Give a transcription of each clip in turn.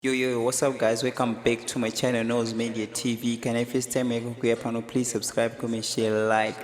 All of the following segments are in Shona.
Yo yo yo, what's up guys? Welcome back to my channel Nose Media TV. Can I first time make kuya pano please subscribe, comment, share, like.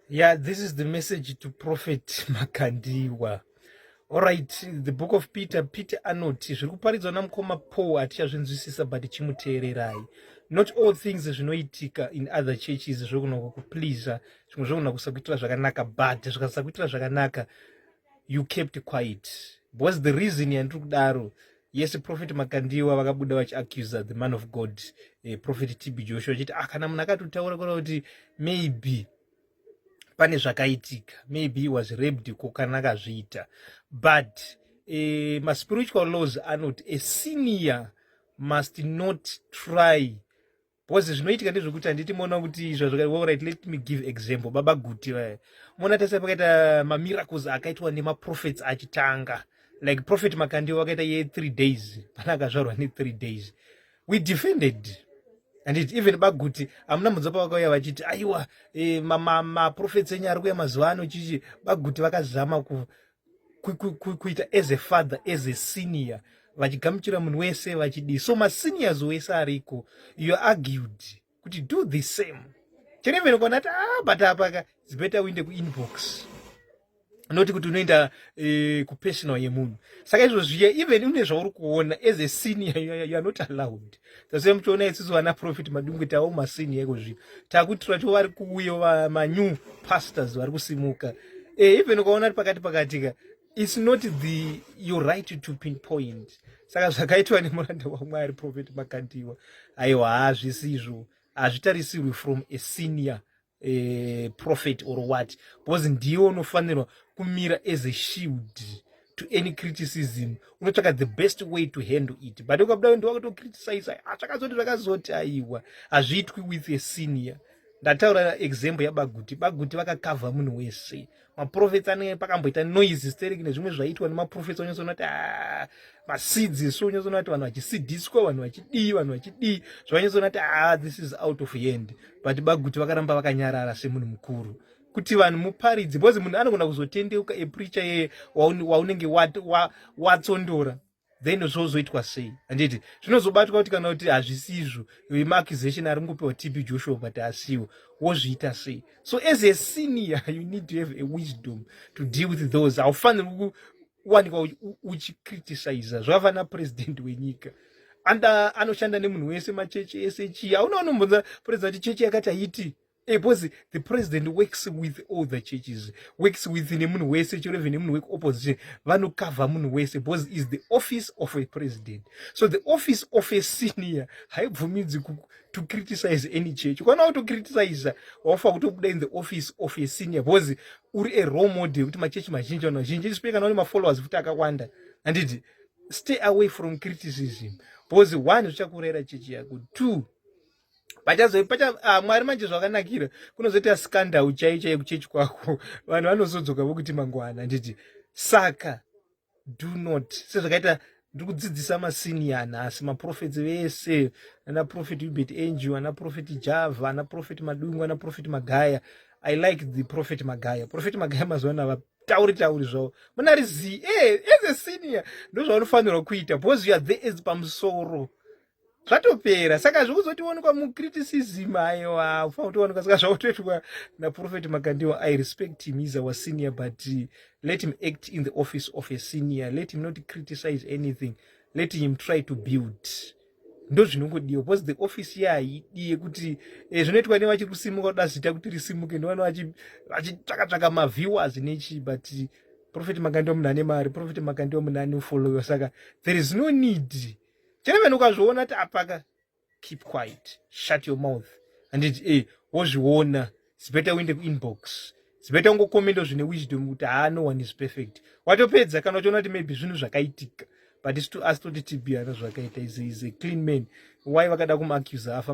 Yeah, this is the message to Prophet Makandiwa. All right, the book of Peter, Peter anoti zviri kuparidzwa namukoma Paul hatichazvinzwisisa but chimuteererai. Not all things zvinoitika in other churches zvokunaka kupleaser, zvimwe zvokunaka kusakuitira zvakanaka but zvikasakuitira zvakanaka you kept quiet because the reason yandiri kudaro yes prophet makandiwa vakabuda vachiaccusa the man of god eh, prophet tb joshua achiti ah, kana munhu akatotaura kona kuti maybe pane zvakaitika maybe was rabed ko kana akazviita but eh, maspiritual laws anoti a senior must not try bcause zvinoitika ndezvekuti handiti moona kuti zvazvakaorit let me give example baba guti vaya moona tese pakaita mamiracles akaitwa nemaprofets achitanga like prophet makandiwa akaita ye three days pana akazvarwa ne three days we defended and it even baguti amuna mudzo pavakauya vachiti aiwa e, maprofets enyu ari kuya mazuva ano chichi baguti vakazama ku kuita as a father as a senior vachigamuchira munhu wese vachidii so maseniors wese ariko you argued kuti do the same chenemene kona ati ah but apa ka it's better uinde kuinbox noti kuti unoenda eh, kupersonal yemunhu saka izvo zviya even une zvauri kuona as a senior you are not allowed tase muchiona isusu vana profit madungwe tavo masini yeko zvino takuti twacho vari kuuyo manew pastors vari kusimuka e, even ukaona ri pakati pakatika its not the your right to pin point saka zvakaitwa nemuranda wamwari profit makandiwa aiwa hazvisizvo hazvitarisirwi from a senior e, prophet or what because ndiwe unofanirwa kumira as a shield to any criticism unotsvaka the best way to handle it but ukabuda wendi wakatocriticize ah, zvakazoti zvakazoti aiwa hazviitwi with a senior ndataura example yabaguti baguti vakakavha munhu wese maprofets ane pakamboita noise hysteric nezvimwe zvaitwa nemaprofets onyatsona kuti ah, maseeds isu onyatsona kuti vanhu vachisidiswa vanhu vachidii vanhu vachidii zvavanyatsona kuti ah, this is out of hand but baguti vakaramba vakanyarara semunhu mukuru kuti vanhu muparidzi because munhu anogona kuzotendeuka epricha yeye waunenge watsondora wa, wa, then zvozoitwa sei handiti zvinozobatwa kuti kana kuti hazvisizvo vemaaccusation ari ngopiwa tb joshua but asiwo wozviita sei so as a senior you need to have a wisdom to deal with those haufaniri kuwanikwa uchicriticiza zvavana president wenyika anda anoshanda nemunhu wese machechi ese chii auna anombonza president chechi yakati haiti because eh, the president works with all the churches works with nemunhu wese chero even nemunhu wekuopposition vanokavha munhu wese because is the office of a president so the office of a senior haibvumidzi to criticize any church ukaona kutocriticiza wafa kutobuda in the office of a senior because uri a role model kuti machechi mazhinji vanhu vazhinji ndisipe kana une mafollowers futi akawanda handiti stay away from criticism because one zvichakurera chechi yako two pachazo pacha ah, mwari manje zvakanakira kunozoita scandal chai chai kuchechi kwako vanhu vanozodzoka vokuti mangwana handiti saka do not sezvakaita ndiri kudzidzisa masini anhasi maprofeti vese ana profeti ubert angel ana profeti java ana profeti madungu ana profeti magaya i like the profeti magaya profeti magaya mazuva ano havatauri tauri zvavo muna rizii e eh, as a senior ndozvaunofanirwa kuita because you are there as pamusoro zvatopera saka zvekuzotionekwa mucriticism aiwa ufa kutoonekwa saka zvakutoitwa naprofet makandiwa i respect him is our senior but uh, let him act in the office of a senior let him not criticize anything let him try to build ndozvinongodiwa because the office ye haidi yekuti eh, zvinoitwa nevachiri kusimuka kuda zita kuti risimuke ndovana vachitsvakatsvaka maviewers nechii but profet makandiwa munhu ane mari profet makandiwa munhu ane ufollower saka there is no need to chero vanhu ukazviona kuti apaka keep quiet shut your mouth handiti e eh, wozviona zibeta uende kuinbox zibeta ungokomendo zvine wisdom kuti haa no one is perfect watopedza kana uchiona kuti maybe zvinhu zvakaitika but asi toti tibiyana zvakaita is a clean man why vakada kumuaccusa afa